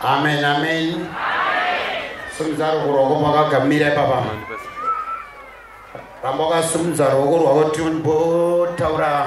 amen amen simudza ruoko rwako pakagamira ipapa ramba ukasimudza ruoko rwako timbotauraa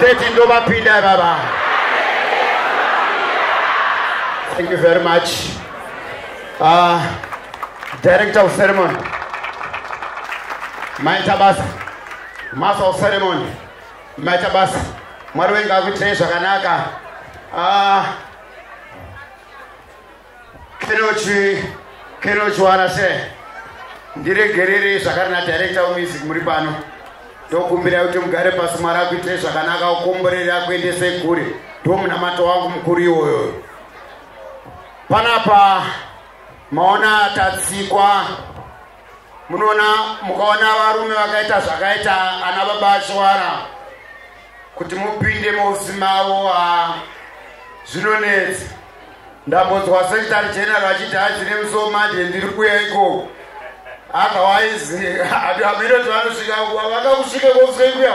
130 ndovapinda baba thank you very much uh, director of ceremony maita basa master of ceremony maita basa mwari wenga akuitirei zvakanaka uh, Kenochi, Kenochi Wanase, ndiregerere zvakare na director of music muri pano. Ndokumbira kuti mugare pasi mwari akuitire zvakanaka ukomborere akuendese kure. Ndomunamato wangu mukuru iwoyo. Panapa maona tatsikwa munoona mukaona varume vakaita zvakaita ana baba ashwara kuti mupinde mausi mavo a zvinonetsa ndambonzwa secretary general achiti hanzi nemuso manje ndiri kuya ikoko otherwise amirotivanosvika vakakusvika kosvika kuya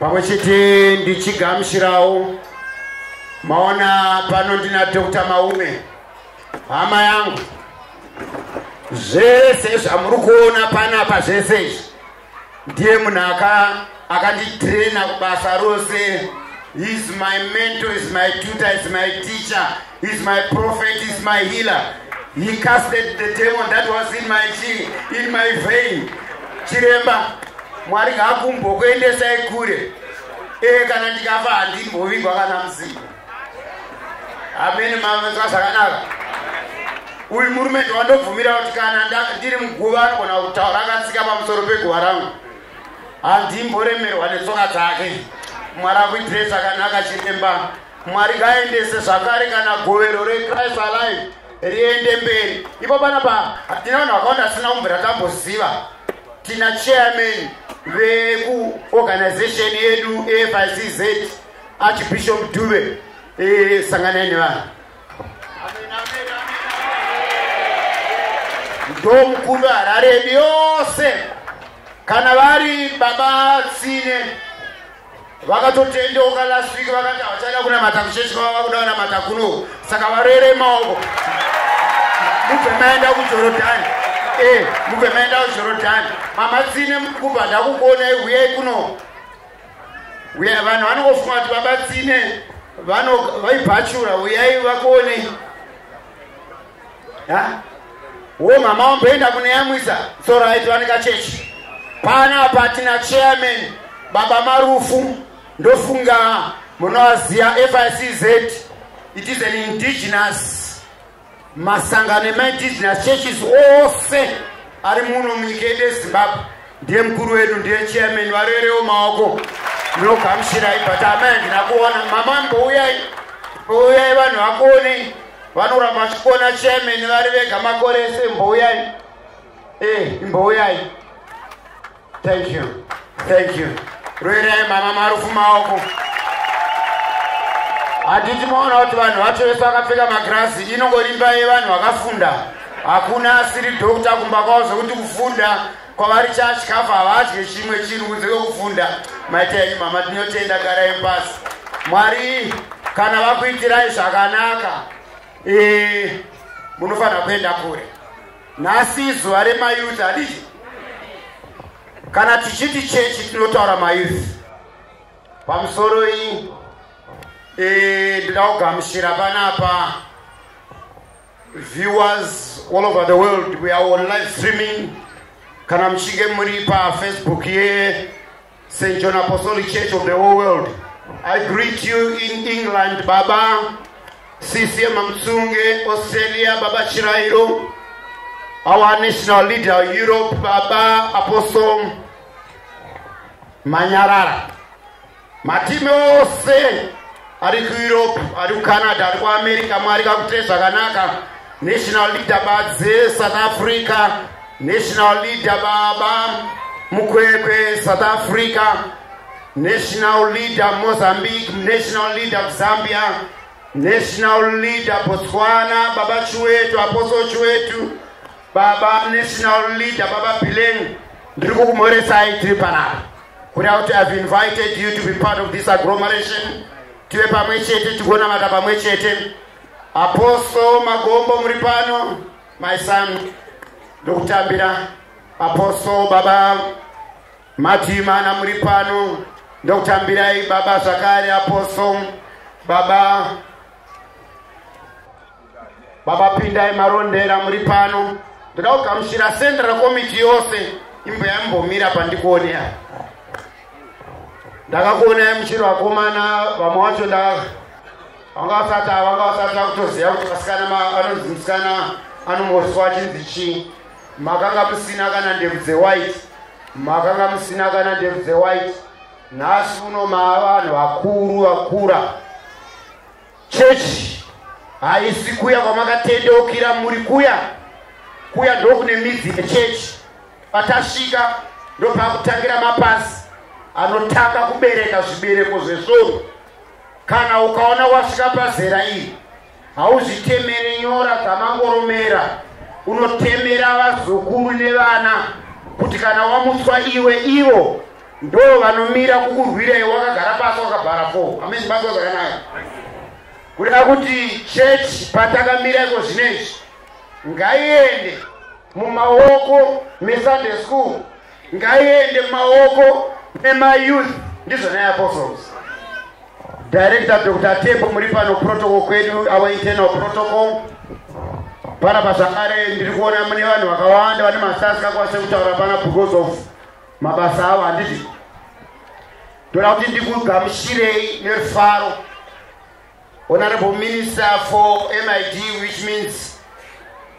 pamwe chete ndichigamushirawo maona pano ndina dr maume hama yangu zvese zvamuri kuona panapa zvese izvi ndiye munhu akanditrena kubasa rose is my mentor is my tutor is my teacher He's my prophet, he's my healer. He casted the demon that was in my chi, in my vein. Chiremba, Mwari ngaakumbokuendesai kure. Eh kana ndikafa handimbovigwa kana mzimu. Amen mama zvakanaka. Uyu murume ndowandobvumira kuti kana ndiri muguva anogona kutaura akatsika pamusoro peguva rangu. Handimboremerwa netsoka dzake. Mwari akuitirei zvakanaka chiremba. mwari ngaendese zvakare kana govero rechrist alive riende mberi ipo panapa tina vanhu vakawanda asina kumbira tamboziva tina chairman vekuorganization yedu efizz archbishop dube e, sanganai nevanhu ndo mukuru harare yose kana vari baba tsine vakatotendeuka last week vakati havachada kunamata kuchechi kwava vakuda vanamata kuno saka varere maoko mubve maenda kujorodhani e mubve maenda kujorodhani mamatsine mukuba ndakukuonai huyai kuno uya vanhu vanongofunga kuti vabatsine vaibhachura uyai vakuonei Ha? Wo mama wamboenda kunoyamwisa so right vanika chechi. Pana apa tina chairman baba Marufu ndofunga munowaziva FICZ it is an indigenous masangano ema indigenous churches ose ari muno munyika yedu yeZimbabwe ndiye mukuru wedu ndiye chairman varerewo maoko ndinogamuchirai but amai handina kuona mama mbouyai mbouyai vanhu vakuonei vanoramba vachikuona chairman vari vega makore ese mbouyai e eh, mbouyai thank you thank you roerai mama marufu maoko handiti maona kuti vanhu vacho vese vakapfeka magirazi inongorimba yevanhu vakafunda hakuna asiri dhokta kumba kwavo zvekuti kufunda kwavari chachikafu havadye chimwe chinhu kunze kwekufunda maita yenyu mama tinotenda garai pasi mwari kana vakuitirai zvakanaka eh, munofanira kuenda kure nhasi zuva remayuth hadii kana tichiti chechi tinotaura mayuth pamusoro iyi eh, ndinogamushira panapa viewers all over the world we are on live streaming kana muchinge muri pafacebook ye st john apostolic church of the whole world i greet you in england baba sisi mamtsunge australia baba chirairo our national leader europe baba apostle manyarara matime ose ari kueurope ari kucanada ari kuamerica mwari kakute zvakanaka national leader badze south africa national leader baba mukwekwe south africa national leader mozambique national leader zambia national leader botswana baba chiwetu aposo chiwetu baba national leader baba bileng ndiri kukumhoresai tiri panapa kuda kuti ihave invited you to be part of this agglomeration tive pamwe chete tigonamata pamwe chete apostle magombo muri pano my son ndokutambira apostle baba matimana muri pano ndokutambirai baba zvakare apostle baba baba pindai marondera muri pano ndoda kugamushira central committee yose imbo yambomira pandikuonea ndakakuonai muchiri vakomana vamwe wacho nda vanga vasati vanga vasati vakutoziva kuti vasikana anonzi musikana anomoswa achinzi chii makanga musina kana ndebvu dzewhite makanga musina kana ndebvu dzewhite nhasi uno maavanhu vakuru vakura Chechi haisi kuya kwamakatendeukira muri kuya kuya ndokune midzi yechechi patasvika ndopakutangira mapasi anotanga kubereka zvibereko zvesvoro kana ukaona wasvika pazera iri hauzvitemere nyora dzamangoromera unotemera vazukuru nevana kuti kana wamutswa iwe ivo ndoo vanomira kukurwirai wakagara pasi wakabhara fo amezibatwa zvakanaka kuda kuti chechi patakamira iko zvino izvi ngaiende mumaoko mesunday school ngaiende mumaoko memayouth ndizvo naye apostles director dr tembo muri pano protocol kwedu our internal protocol pana pazvakare ndiri kuona mune vanhu vakawanda vane masasi kakwanise kutaura pana because of mabasa avo handiti ndoda kuti ndikugamushirei nerufaro honorable minister for mid which means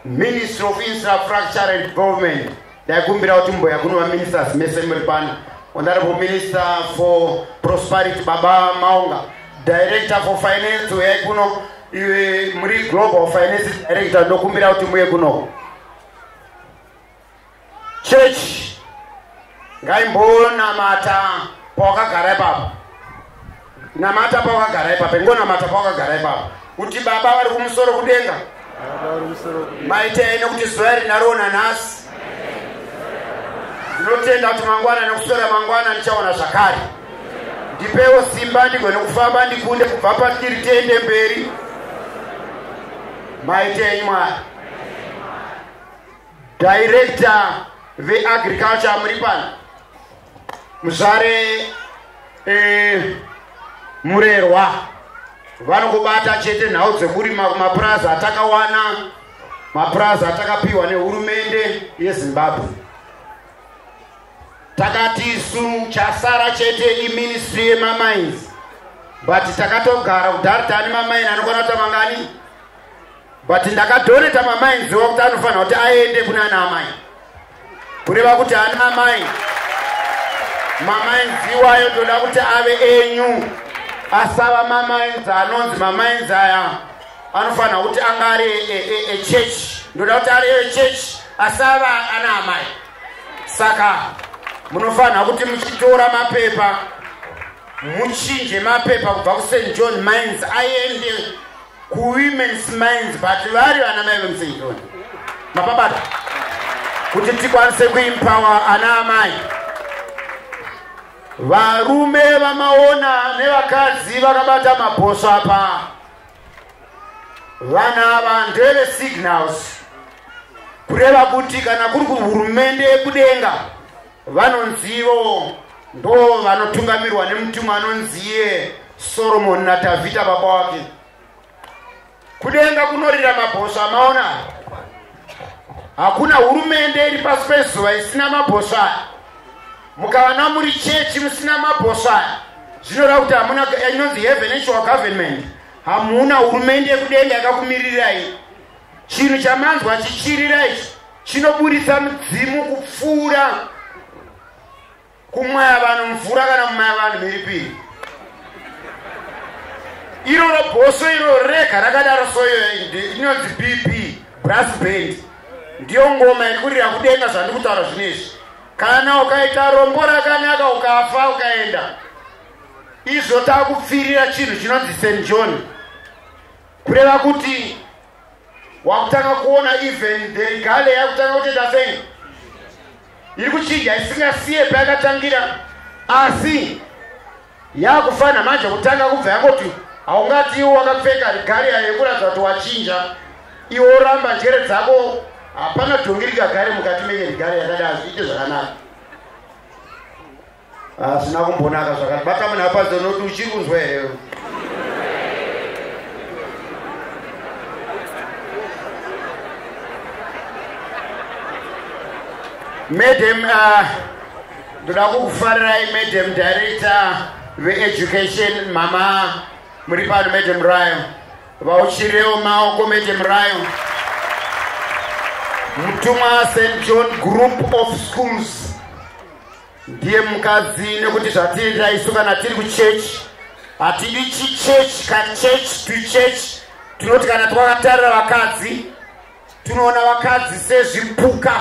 ministry of infrastructure and development ndaikumbira kuti mboya kuno vaministers mese muri pano honorable minister for prosperity baba maunga director for finance uyai kuno iwe muri global finance director ndokumbira kuti muye kuno chechi ngaimbonamata pawakagara ipapo namata pawakagara ipapo ingonamata pawakagara ipapo kuti baba vari kumusoro kudenga maitei nekuti zuva iri ndariona nhasi ndinotenda kuti mangwana nekuswera mangwana ndichaona zvakare ndipewo simba ndigone kufamba ndikunde kubva patiri tiende mberi maitenyi mwari Director veAgriculture muri pano. Muzvare eh, Murerwa vanokubata chete nhau dzekurima kumapurazi atakawana mapurazi atakapiwa nehurumende yezimbabwe takati isu chasara chete iministry yemamines but takatogara kudhari tani mamaini anokwana kuta mangani but ndakadoneta mamainziwa kuti anofanira kuti aende kune ana amai kureva kuti ana amai mamainziwayo ndoda kuti ave enyu asava mamainzi anonzi mamainzi aya anofanira kuti anga ari echurch e, e, ndoda kuti ari echurch asava ana amai saka munofanira kuti muchitora mapepa muchinje mapepa kubva kust john mines aende kuwomens minds but vari vana mai vemsenjoni mapabata kuti tikwanise kuimpawa ana amai varume vamaona nevakadzi vakabata mabhosvo apa vana ava ndeve signals kureva kuti kana kuri kuhurumende yekudenga vanonzivo ndo vanotungamirwa nemutumwa anonziye soromoni nadhavhidha baba wake kudenga kunorira mabhosva amaona hakuna hurumende iri pasi pezuva isina mabhosva mukavana muri chechi musina mabhosva zvinoreva kuti hamuna inonzi hevenational government hamuna hurumende yekudenga yakakumirirai Chinhu chamanzwa chichirira ichi chinoburitsa mudzimu kupfuura kumwaya vanhu mvura kana kumwaya vanhu mhiripiri iroro bhoso iroro rega rakadaro soyo inonzi bp brass band ndiyo ngoma iri kurira kudenga zvandiri kutaura zvino izvi kana ukaita rombo rakanaka ukafa ukaenda izvo takupfirira chinhu chinonzi st john kureva kuti wakutanga kuona even the regale yakutanga kutoita sei iri kuchinja isingasiye payakatangira asi yakufanira manje kutanga kubva yangoti haungati iwo wakapfeka rigari yayo yekuratidza kuti wachinja iwo oramba njere dzako hapana dhongi rigagare mukati menye rigari yakadai zviite zvakanaka hazvina ah, kumbonaka zvakati bakamana apadzo noti uchiri kunzwa here madam ah, ndoda kukufarirai madam director veeducation mama muri pano madam rayo vauchirewo maoko madam rayo mutumwa st john group of schools ndiye mukadzi nekuti zvatiriita isu kana tiri kuchechi hatidi chichechi kachechi tuchechi tinoti kana twakatarira vakadzi tinoona vakadzi sezvipuka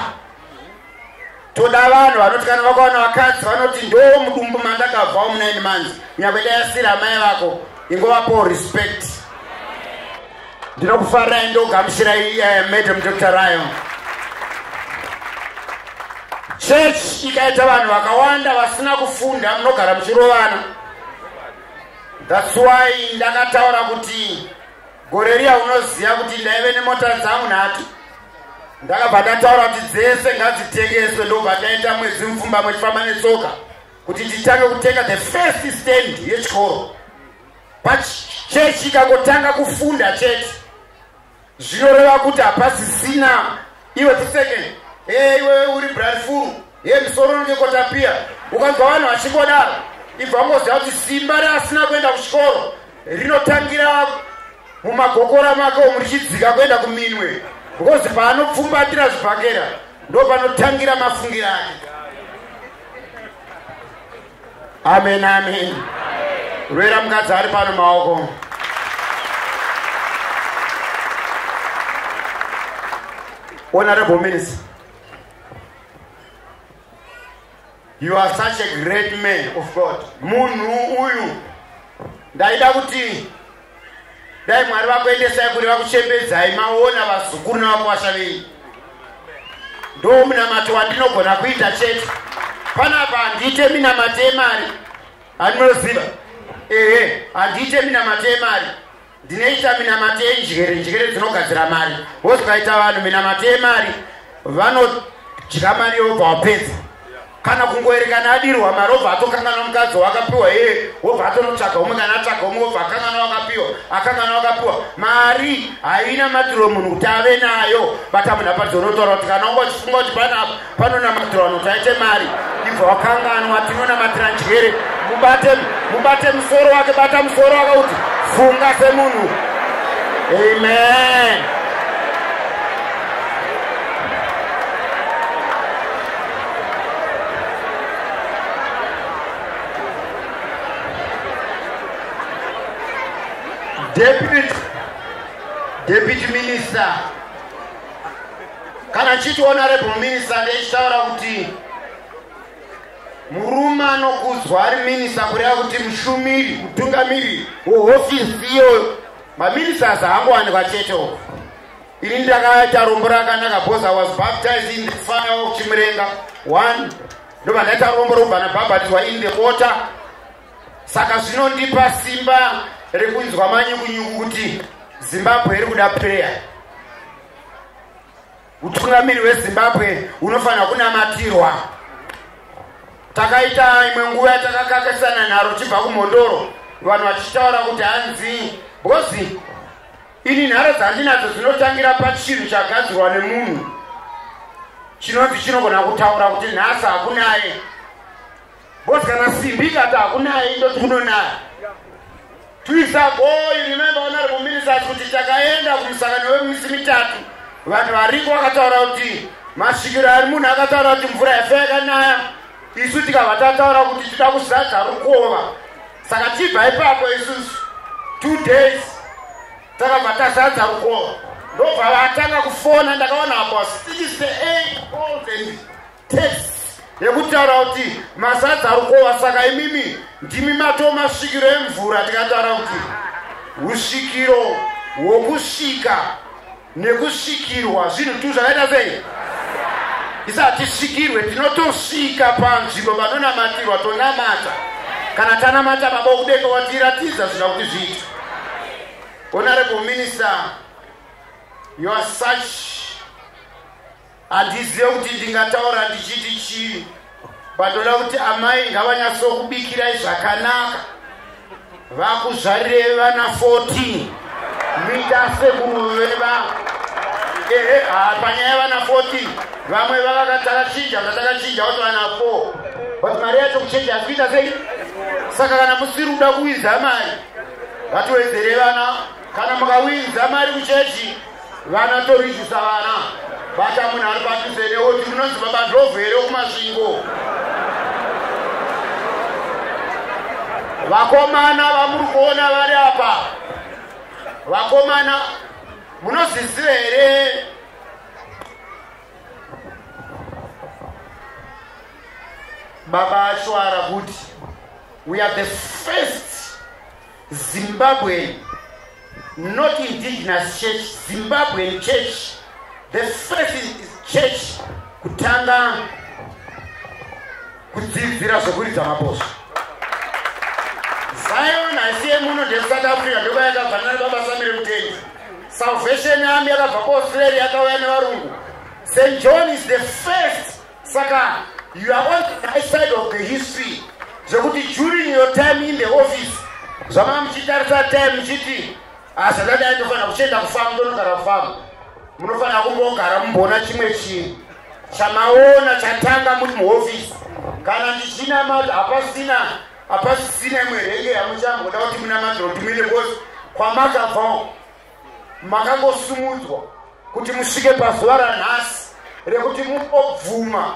toda vanhu vanoti kana vakaona vakadzi vanoti ndo mudumbu mandakabva omunaini manzi nyakwedayasira amai vako ingovapo respect ndinokufarirai ndogamuchirai uh, eh, madam dr rayo church ikaita vanhu vakawanda vasina kufunda munogara muchirovana thats why ndakataura kuti gore riya unoziva kuti ndaive nemota dzangu nhatu ndakabva ndataura kuti dzese ngadzitengeswe ndobva taita mwedzi mupfumba mwechifamba netsoka kuti titange kutenga the first stand yechikoro pachechi ikangotanga kufunda chete zvinoreva kuti hapasisina iwe tiseke e iwe uri brafuru e misoro unenge kotapiya ukanzwa vanhu vachingodaro ibva ungoziva kuti simba reasina kuenda kuchikoro rinotangira mumagokora make omu richidzika kuenda kuminwe because paanopfumbatira zvibhakera ndopanotangira mafungira ake amen amen rwera mukadzi ari pano maoko honorable minister you are such a great man of god munhu uyu ndaida kuti dai mwari vakuendesai kuri vakuchembedzai maona vazukuru navakwasha venyu ndo munamato wandinogona kuita chete panapa handiite minamato yemari andinoziva ehe handiite minamato yemari ndinoita minamato yenjere njere dzinogadzira mari wozikaita vanhu minamato yemari vanodya mari yobva wapedza kana kungoerekana adirwa mari obva atokanganwa mukadzi wakapiwa iye wobva atonotsvaga umwe kana atsvaga umwe obva akanganwa wakapiwa akanganwa wakapiwa mari haina matiro munhu kuti ave nayo bata munhu apadzo unotaura kuti kana unga uchifunga kuti panapa panonamatiro vanhu kuti aite mari ibva wakanganwa tinonamatira njere mubate mubate musoro wake bata musoro wake kuti funga semunhu amen Deputy, Deputy Minister kana chiti honorable minister ndechitaura kuti murume anokudzwa ari minista kureva kuti mushumiri mutungamiri wehofisi iyo maministers haangowanikwa chete uko Ini ndakaita rombo rakanaka because I was baptized in the fire of Chimurenga one ndobva ndaita rombo robva nabhabhatidzwa in the water saka zvinondipa simba rekunzwa manyukunyuku kuti zimbabwe iri kuda prayer utungamiri hwezimbabwe unofanira kunamatirwa takaita imwe nguva yatakakakisana nharo chibva kumhondoro vanhu vachitaura kuti hanzi bhozi Ini nharo dzandinadzo dzinotangira pachinhu chagadzirwa nemunhu chinonzi chinogona kutaura kuti nhasi hakunaye bcause kana simbi ikati hakunaye indoti kunonaya tuisagoyi remembe vanari muminisat kuti takaenda kumusangano wemisi mitatu vanhu variko vakataura kuti masvikiro ari munhu akataura kuti mvura yafe yakanaya isu tikabva tataura kuti tida kuzadza rukova saka tibva ipapo isusu two days takabva tazadza rukova ndobva vatanga kufona ndakaona apo six eight calls and text yekutaura kuti mazadza rukova saka imimi ndimi matoo masvikiro emvura tikataura kuti usvikiro hwokusvika nekusvikirwa zvinhu tu zvakaita sei isi hatisvikirwe tinotosvika panzvimbo panonamatirwa tonamata kana tanamata baba okudenga watiratidza zvina kuti zviita honorable minister you are such handizive kuti ndingataura ndichiti chii bandoda kuti amai ngavanyasokubikirai zvakanaka vakuzvarirei vana 14 muita sekunoveva ehe ha panyaya yevana 14 vamwe vavakatakachinja vatakachinja kuti vana 4 but mari yacho kuchinja hasi kuita sei saka kana musiri kuda kuwinza mari vatiwedzere vana kana mukawinza mari kuchechi vana torizvisa vana bata munhu ari padhuze neoti munonzi baba ndlovu here wekumasvingo vakomana vamuri kuona vari apa vakomana munozviziva here baba ashwara kuti we are the first Zimbabwean, not indigenous church, Zimbabwean church. The first church kutanga kudzidzira zvekuridza mabhosvo. Zion haisi yemuno ndeSouth Africa ndoba yakafanana baba Samire Mutendi. Salvation Army yakabva kuAustralia yakauya nevarungu. St John is the first Saka you are on the right side of the history zvekuti during your time in the office zvamanga muchitarisa time muchiti hazvadadai ah, ndofanira kuchienda kufamu ndonogara kufamu munofanira kumbogara mumboona chimwe chinhu chamaona chatanga muri muhofisi kana ndichinamata hapasina hapasisina imwe renge yamuchamboda kuti munamatira kuti muine kosi kwamakabvawo makangosimudzwa kuti musvike pazuva ranhasi rekuti mubobvuma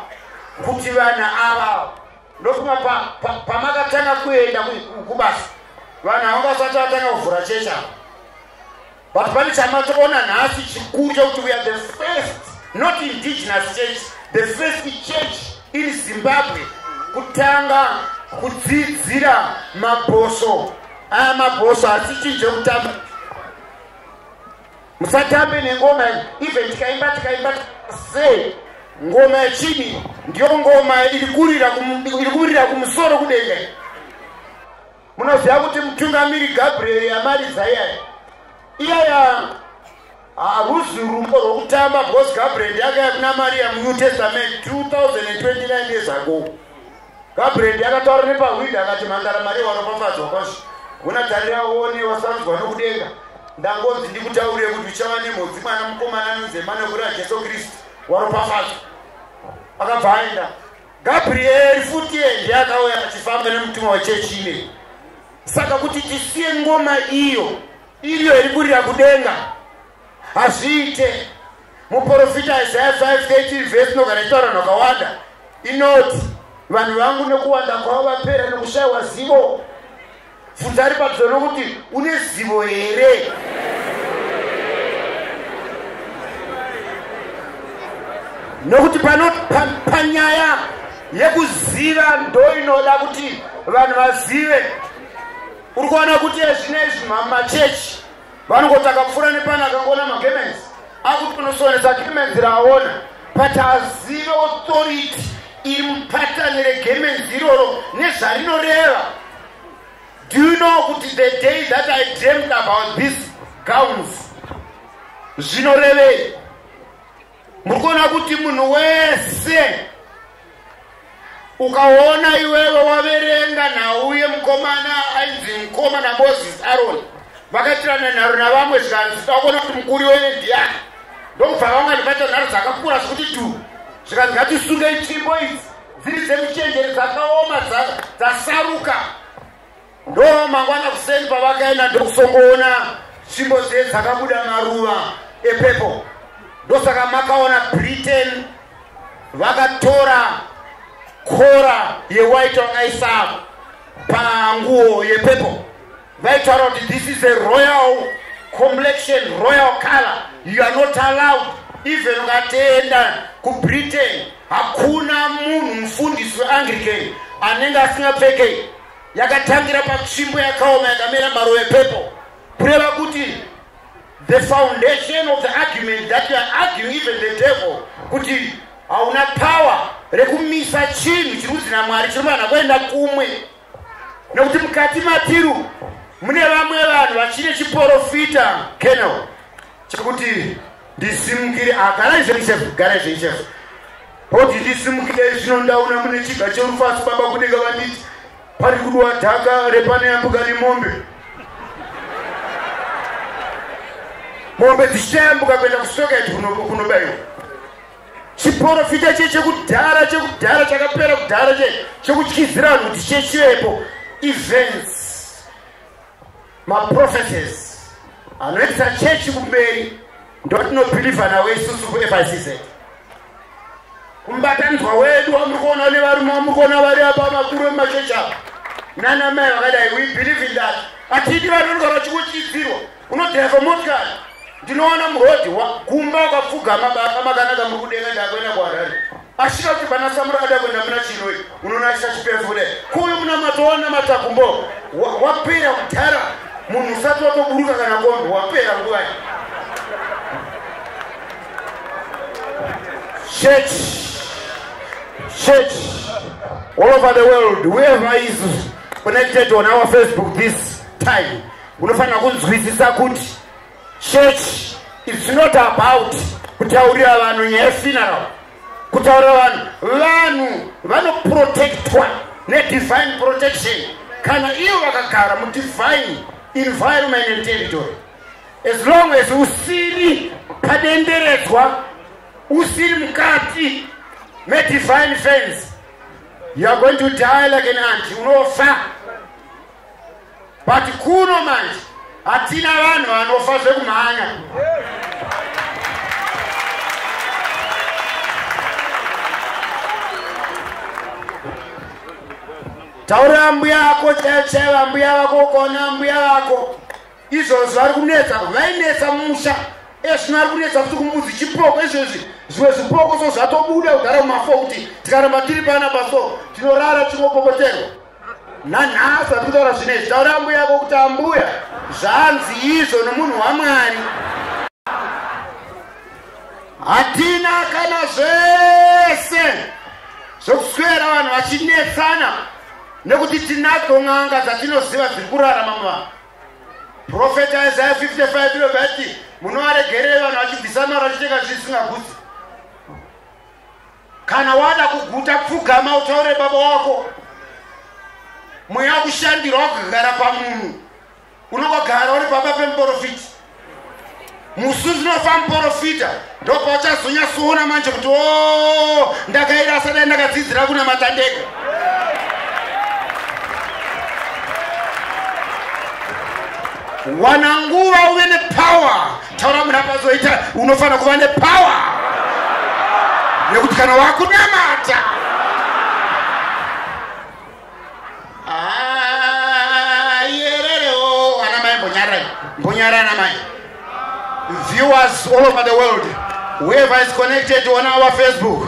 kuti vana avavo ndofuma pamakatanga kuenda kubasa vanhu avo vasati vatanga kuvhura chechi avo but pane chamatoona nhasi chikuru chekuti we are the first not indigenous church the first church in zimbabwe kutanga kudzidzira mabhoso aya mabhosvo asichinje kutamba musatambe nengoma even tikaimba tikaimba se ngoma yechidi ndiyo ngoma iri kumirira kumusoro kudenga munoziva kuti mutungamiri gabriel yamaridzaiya iyaya Haruzi rumbo rwokutamba because Gabriel ndiakaya kuna Maria muNew Testament 2029 years ago. Gabriel ndiakataura nepahwindi akati mhandara Maria waropafadzwa kwazvo. Hona tarira uone wasanzwa nokudenga. Ndangonzi ndikutaurire kuti uchava nemhodzi mwana mukomana anonzi Emanuel Jesu Kristu waropafadzwa. Akabva aenda. Gabriel futi ndiye akauya achifamba nemutumwa wechechi ineyi. Saka kuti tisiye ngoma iyo iriyo iri kurira kudenga hazviite. Muporofita Isaya 5:13 vhesi inogara ichitaura vanhu vakawanda inoti vanhu vangu nekuwanda kwavo vapera nokushayiwa zivo. Bvunza ari padyo nokuti une zivo here? Nokuti pano panyaya yekuziva ndoinoda kuti vanhu vazive uri kuona kuti ezvino izvi mamachechi vanongotanga kupfuura nepano akangoona magemenzi akuti unosonesa gemenzi raaona but azive authority iri mupatani regemenzi iroro nezvarinoreva do you know kuti the day that i dreamed about this gowns zvinorevei muri kuona kuti munhu wese ukaona iwewe waverenga nhau yemukomana ainzi mukoma namoses aroni vakaitirana nharo navamwe zvikanzi takuona kuti mukuri wene ndiyani ndokubva vangani vaita nharo dzakakura zvekuti tu zvikanzi ngatisunge itsvimbo idzi dziri dzemuchenjeri dzakaoma dzasaruka ndo mangwana kuseni pavakaenda ndokusongoona tsvimbo dze dzakabuda maruva epepo ndosaka makaona britain vakatora kora yewhite vakaisa panguo yepepo vaitaura kuti this is a royal complexion royal color you are not allowed even ukatenda kubritain hakuna munhu mufundisi weanglican anenge asingapfekei yakatangira patsvimbo yakaoma yakamera maruva epepo kureva kuti the foundation of the argument that youare arguing even the devil kuti hauna power rekumisa chinhu chiri kunzi namwari chinofanira kuenda kumwe nekuti mukati matiru mune vamwe vanhu vachine chiporofita kenel chekuti ndisimukire ah, garai zvenyu chef garai zvenyu chef hoti ndisimukire zvino ndaona mune chiga cherufasu baba kunenge vanditi pari kudiwa dhaka repane yambuka nemombe mombe dzichayambuka kuenda kusoka iti kunobaiwa chiporofita che chekudhara chekudhara chakapera kudhara che chekutyizira vanhu kuti chechivepo events maprophecies anoendesa chechi kumberi ndotinobhilivha nawo isusu kufizz kumbatanidzwa wedu wamuri kuona une varume wamuri kuona vari apa vakuru vemachechi ava nana mai vakadai we believe in that atidi vanorwa vachikuchidzirwa unodhaiva motikari ndinoona murodhi gumba wakapfugama baka makanaka muri kudenga ndakuenda kuharare Asvika kuti bana Samura ada kuenda muna Chiroi, unoona asvika chipezi kuda kuuyu munamato wanamata kumbo wapera kudhara munhu usati watoburuka kana kombi wapera nguva church church all over the world whoever is connected on our Facebook this time unofanira kunzwisisa kuti Church is not about kutaurira vanhu nyaya yefuneral kutaurira vanhu vanhu vanoprotectwa nedivine protection kana ivo vakagara mudivine environment and territory as long as usiri padenderedzwa usiri mukati medivine fence youare going to die like an anti unofa but kuno manje hatina vanhu vanofa zvekumhanya taurira mbuya vako chaichai vambuya vako ukaona mbuya vako izvozvi vari kunetsa vainetsa musha ezvino ari kunetsa kuti kumbuzi chipoko izvezvi zvimwe zvipoko so zvatobuda kugara kumafo kuti tikaramba tiri pana paso tinorara chinopokoterwa nanhasi ati kutaura zvine izvi taura ambuya yako kuti ambuya zvanzi izvo nomunhu wamwari hatina kana zvese zvokuswera vanhu vachinetsana nekuti tinadzo n'anga dzatinoziva dziri kurarama muvanhu profeta isaya 55 iro vati munovaregerei vanhu vachibvisa mari vachitenga zvisingagutsi kana wada kuguta pfugama utaure baba wako mweya kushandirwa wakugara pamunhu unongogara uri pamba pemuporofiti musi unofa muporofita ndopauchazonyatsoona manje kuti o oh, ndakaira asadai ndakadzidzira kuna matandeko wana nguva uve nepower taura munhu apazoita unofanira kuva nepower nekuti kana wakunamata ah, yererewo ana mai mbonyarai mbonyarai ana mai viewers all over the world whoever is connected on our facebook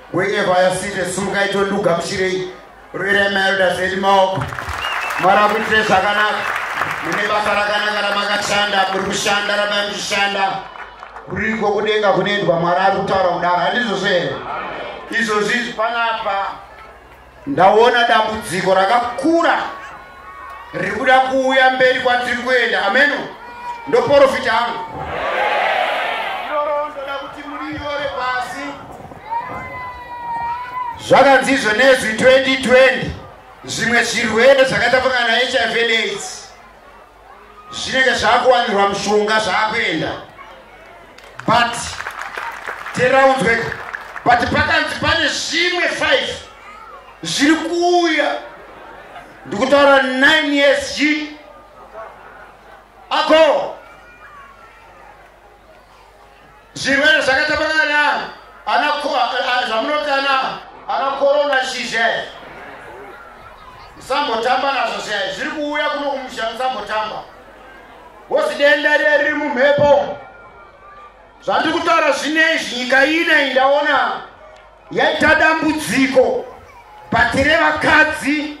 Wherever I see the sunga ito luga mshirei. Rwere melda zedi maoko. Mara kuitire zvakanaka. Mune basa rakanaka ramakashanda, muri kushanda rabai muchishanda. Kuriko kudenga kunoendwa Mwari ari kutaura kudaro, handizvo zvere? Izvozvi panapa ndaona dambudziko rakakura riri kuda kuuya mberi kwatiri kuenda ameno ndoporofita angu iroro ndoda kuti muriyore pasi zvakanzizve nezwi 2020 zvimwe zvirwere zvakaita fungana hiv aids zvinenge zvakuwanirwa mushonga zvaakuenda but teraunzweka but pakanzi pane zvimwe five zviri kuuya ndikutaura nine years chii ako zvirwere zvakatapakana zvamunotana ana korona shizhe musambotamba nazvo zvaye zviri kuuya kuno kumusha musambotamba wosi denda riya riri mumhepo zvandiri kutaura zvine izvi nyika ine indaona yaita dambudziko batire vakadzi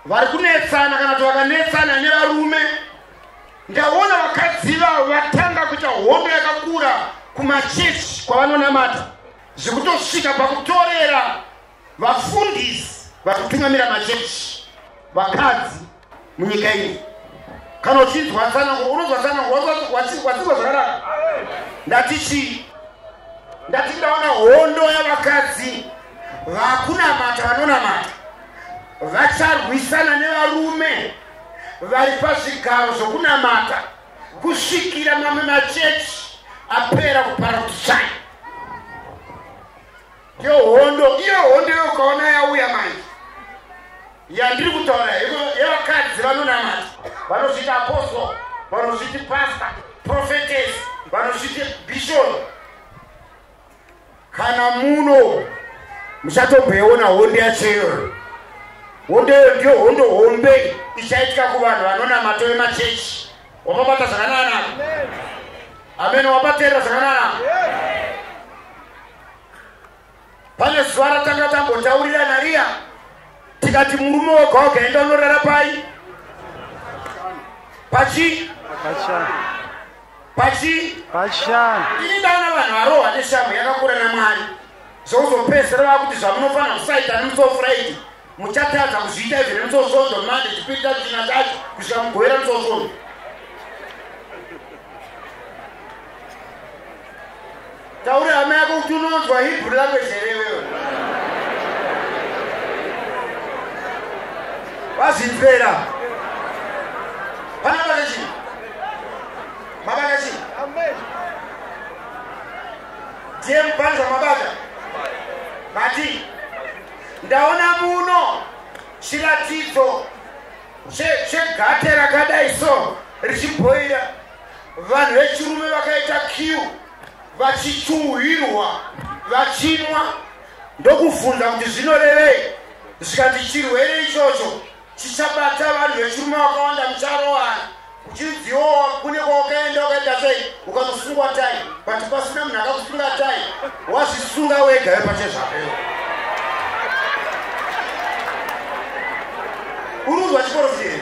vari kunetsana kana kuti vakanetsana nevarume Ndaona vakadzi ivavo vatanga kuita hondo yakakura kumachechi kwavanonamata zvekutosvika pakutorera vafundisi vari kutungamira machechi vakadzi munyika iyi kana uchinzwa tsanango unonzwa tsanango watsirwa zvakanaka ndati chii ndati ndaona hondo yavakadzi vakunamata vanonamata vacharwisana nevarume vaipa zvigaro zvokunamata kusvikira mamwe machechi apera kupara kuti chai iyo hondo iyo hondo iyo ukaona yauya manje yandiri kutaura yevakadzi vanonamata vanozviita apostol vanozviti pasta profetes vanozviti bishop kana muno muchatomboiona honde yachoiyoyo hondeyo ndiyo hondo hombe ichaitika kuvanhu vanonamata vemachechi wapabata zvakanana amene wabateera zvakanana pane zuva ratanga tambotaurira nariya tikati murume woga woga enda unorara pai pachi pachii pachishanu ini ndaona vanhu varohwa neshamhu yakakura namwari zvouzopedzisira vava kuti zvamunofanira kusaita nemusowo furaidi muchatadza kuzviita izvo nemusowo svondo mande chipiri tacho china tacho kusvika mugovera musowo svondo Taura hama yako kuti unonzwa Hebrew language here iwewe? Vazvinzvera. Vana vana chii? Mabata chii? Ndiye mupanza mabata. Mati. Ndaona muno chiratidzo chegate rakadai so richibhoira vanhu vechirume vakaita kiu vachichuhwirwa vachinwa ndokufunza kuti zvinorevei zvikati chirwere ichocho chichabata vanhu vechirume vakawanda mucharowana uchinziwowa kune kwawakaenda wakaita sei ukanosungwa tai but pasina munhu akakusunga tai wazvisunga wega wepache zvako urunzwa chikoro fiei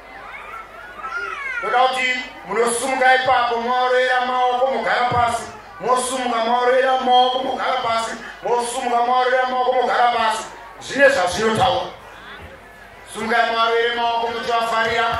ndoda kuti munosumuka ipapo mwaorera maoko mogara pasi mosumuka mwaorera maoko mogara pasi mosumuka mwaorera maoko mogara pasi zvine zvazvinotaura sumukai mwaorere maoko muchivafarira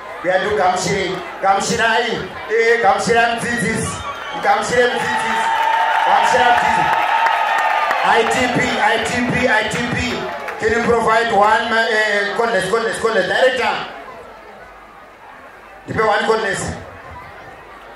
Kuyadu gamushirei, gamushirai, ee eh, gamushira mudzidzisi, gamushire mudzidzisi, gamushira mudzidzisi. ITP, ITP, ITP, can you provide one uh, eh, contest, contest, contest, director? Ndipe one contest.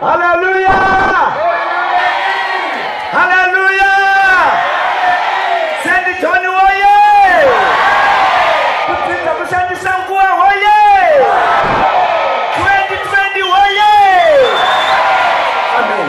haleluya haleluya sendi joni woye kupinza kushandisa nguva hoye 2020 hoye amen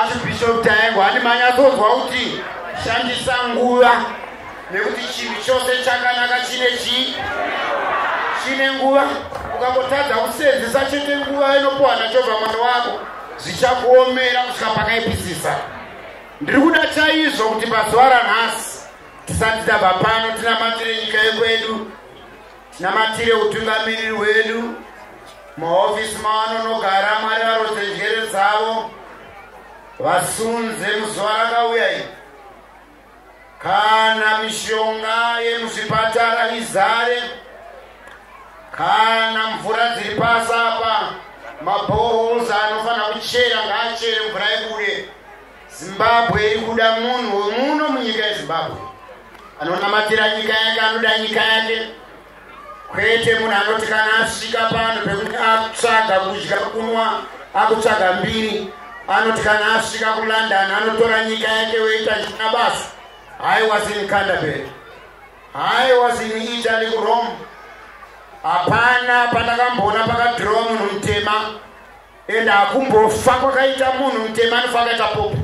Archbishop Taengo handi manyatsonzwa kuti shandisa nguva nekuti chinhu chose chakanaka chine chii chine nguva ukangotadza kusenzesa chete nguva inopuwa nachobva mwana wako zvichakuomera kusvika pakaipisisa ndiri kuda chaizvo kuti pazuva ranhasi tisati tabva pano tinamatire nyika yekwedu Tinamatire utungamiriri hwedu mahofisi mavanonogara mwari varodze njere dzavo vasunze muzuva rakauya iri kana mishonga yemuzvipatara izare kana mvura dziri pasi apa maboholes anofanira kuchera ngaachere mvura ibude Zimbabwe iri kuda munhu womuno munyika yezimbabwe anonamatira nyika yake anoda nyika yake kwete munhu anoti kana asvika pano pekuti akutsvaga kudya kunwa akutsvaga mbiri anoti kana asvika kulondon anotora nyika yake woita nyika basa i was in canterbury i was in italy kurome hapana pandakamboona pakadhirowa munhu mutema and hakumbofa kwakaita munhu mutema anofa akaita popo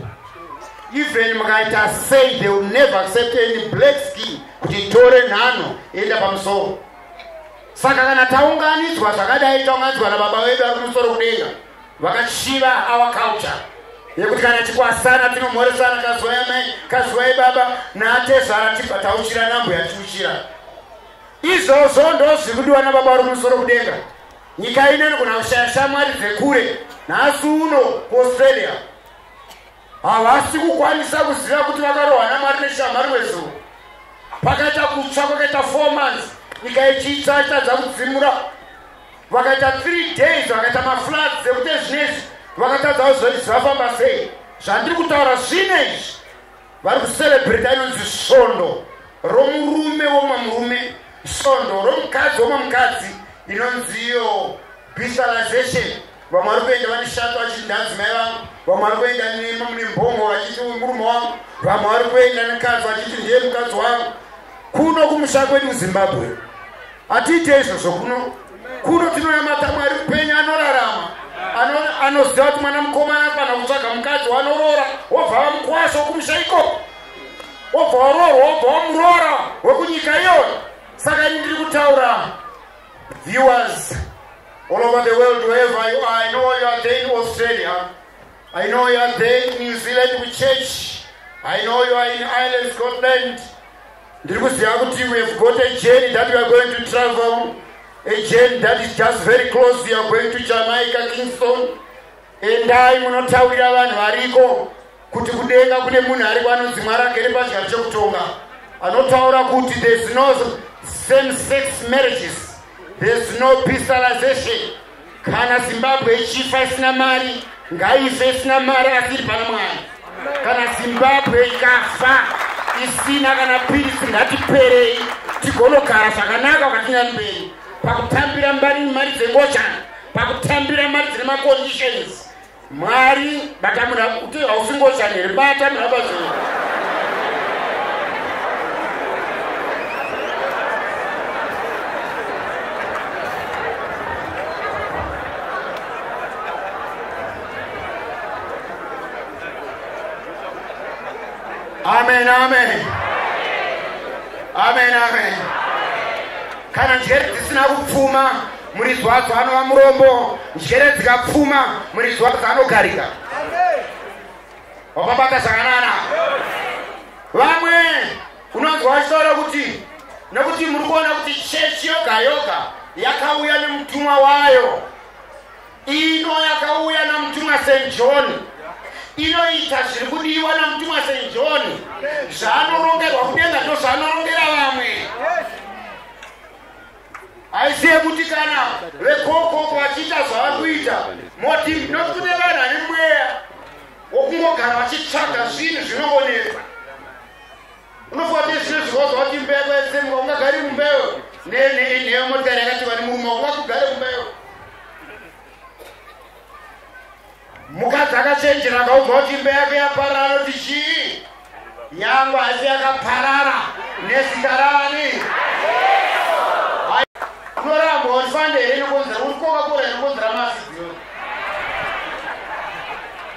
even mukaita say they will never accept any black skin kuti tore nhano enda pamusoro saka kana taunganidzwa zvakadai taunganidzwa nababa vedu ari kumusoro kudenga vakachiva our culture yekuti kana tikwasana tinomhoresana kazwai amai kazwai baba naatezvara tibva tauchira nambo yatiuchira izvozvo ndozvikudiwa nababa vari kumusoro kudenga Nyika ino inogona kushaya shamwari dzekure nhasi uno kuaustralia havasi kukwanisa kuziva kuti vakarohwa namwari neshamwari wezuro pakaita kutsva kwakaita four months nyika yechitsva itadza kudzimura vakaita three days vakaita mafloods dzekuti zvinezvi vakatadzawo zvoi zvafamba sei zvandiri kutaura zvine izvi vari kuserebreta inonzi svondo romurume womwe murume svondo romukadzi womwe mukadzi inonzi iyo bishalization vamwe vari kuenda vane shato vachiti ndanzi mai vangu vamwe vari kuenda nema mune mbongo vachiti murume wangu vamwe vari kuenda nekadzi vachiti ndiye mukadzi wangu kuno kumusha kwedu zimbabwe hatiite izvozvo kuno kuno tinonamata mwari mupenyu anorarama anoziva kuti mwana mukomana afana kutsvaga mukadzi wanoroora wobva vamukwasha wokumusha ikoko wobva waroorwa wobva wamuroora wekunyika iyoyo saka ini ndiri kutaura viewers all over the world wherever you are i know you are there in australia i know you are there in new zealand with church i know you are in ireland scotland ndiri kuziva kuti we have got a journey that we are going to travel a journey that is just very close you are going to jamaica kingston endai munotaurira vanhu variko kuti kudenga kune munhu ariko anonzi mwari agere pachigaro chekutonga anotaura kuti there's no same sex marriages there's no peacilization kana zimbabwe ichifa isina mari ngaife isina mari asi iri pana mwari kana zimbabwe ikafa isina kana pirisi ngatiperei tigonogara zvakanaka ukatinyani mberi pakutambira mbari mari dzengochana pakutambira mari dzine maconditions Mwari bata muna kuti hausingoshandi here bata muna bazvino. Amen amen. Amen amen. Kana njere dzisina kupfuma Muridzi wadzo anova murombo, njere dzikapfuma, muridzi wadzo anogarika. Wakabata zvakanana. Vamwe unonzwa vachitaura kuti nekuti muri kuona kuti chechi yoga yoga yakauya nemutumwa wayo ino yakauya namutumwa st john inoita zviri kudiwa namutumwa st john zvaanorongerwa kudenga ndozvaanorongera vamwe yes. aizive kuti kana vekokoko vachiita zvavari kuita moti not kune vanhu ane mweya wokungogara vachitsvaga zvinhu zvinoonesa unofunga kuti zvino zvikozva kuti mbeya kwaesemuka ungagari mumbeyo neyo motikari yakati vani murume wakugare mumbeyo mukadzi akachenjera akaudza kuti imba yake yaparara anoti chii nyangwe asi yakaparara nezita rani unoramba wandifande here nekonzera uri koka kora nekonzera masi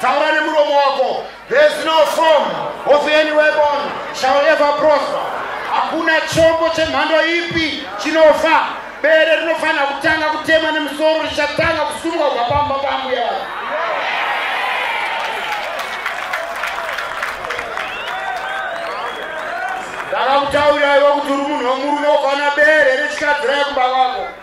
taura nemuromo wako there's no form of any weapon shall ever prosper hakuna chombo chemhando ipi chinofa bere rinofanira kutanga kutemwa nemusoro richatanga kusumuka kubva pamba pambuya vavo ndakakutauraiwa kuti uri munhu wemurume ukaona bere rechikadzira yekuba kwako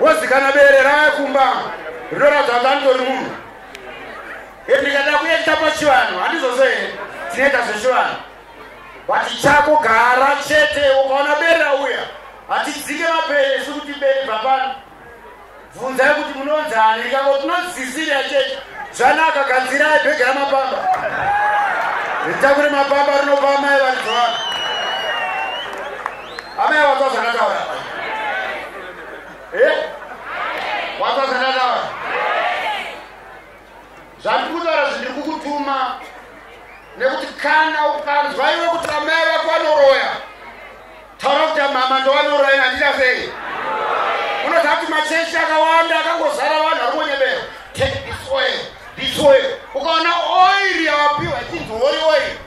wozi kana bere raya kumba rinoratidza kuti anditori munhu e ndikada kuekita pachivanhu handizvose here tinoita zvechivanhu vati chako gara chete ukaona bere rauya hatidzike mapere isu kuti bere bva pano bvunzai kuti munonzi ani ikako tinozisira chete zvanaka kanzirai bhege ramapamba ritakure mapamba rinopa mai varidzi vako Amai wanzwa zvandataura? Eh? Wanzwa zvandataura? Zvandiri kutaura zvindiri kukutuma nekuti kana ukanzwa iwe kuti amai vako vanoroya taura kuti mama ndovanoroya handita sei? Unoziva kuti machechi akawanda akangozara vanhu vari kunyebera. Take this oil, this oil. Ukaona oil yawapiwa ichinzi holy oil.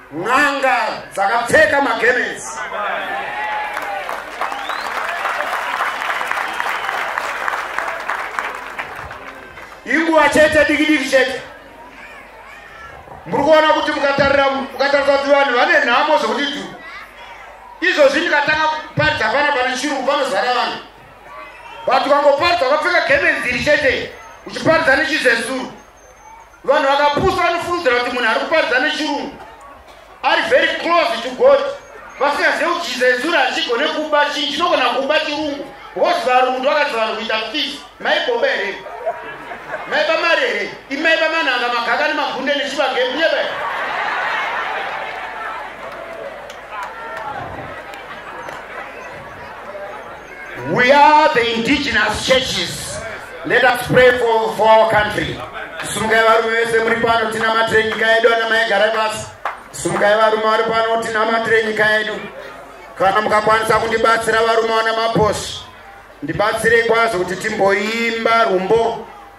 n'anga dzakapfeka magemenzi inguva chete diki diki chete muri kuona kuti mukatarira mukatarisa kuti vanhu vane nhamo zvekuti dhu izvozvi ndikatanga kuparidza pana pane chirungu panozara vanhu but ukangoparidza ukapfeka gemenzi iri chete uchiparidza nechizezuru vanhu vakapusa vanofungidzira kuti munhu ari kuparidza nechirungu ari very close to god vasingazive kuti jizezura hachigone kuba chinhu chinogona kuba chirungu bcause varungu ndovakadzi vanhu kuita fis maiboba here maiba mari here imaiba manhanga magaka nemagunde nechivagemuyeba We are the indigenous churches. Let us pray for, for our country. Sumukai varume vese muri pano tinamatire nyika yedu ana mai garai pasi. Sumukai varume vari pano tinamatire nyika yedu. Kana mukakwanisa kundibatsira varume wana maposi. Ndibatsirei kwazo kuti timboimba rumbo.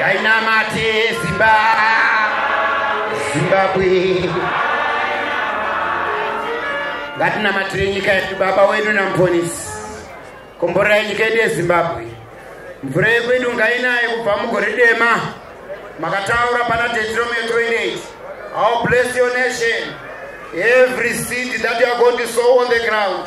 yainamate zimba zimbabwe ngatinamatire nyika yedu baba wedu namuponisi komborai nyika yedu yezimbabwe mvura yekwedu ngainaye kubva mugore dema makataura pana tetrometroinate how bless your nation every seed that youare going to sow on the ground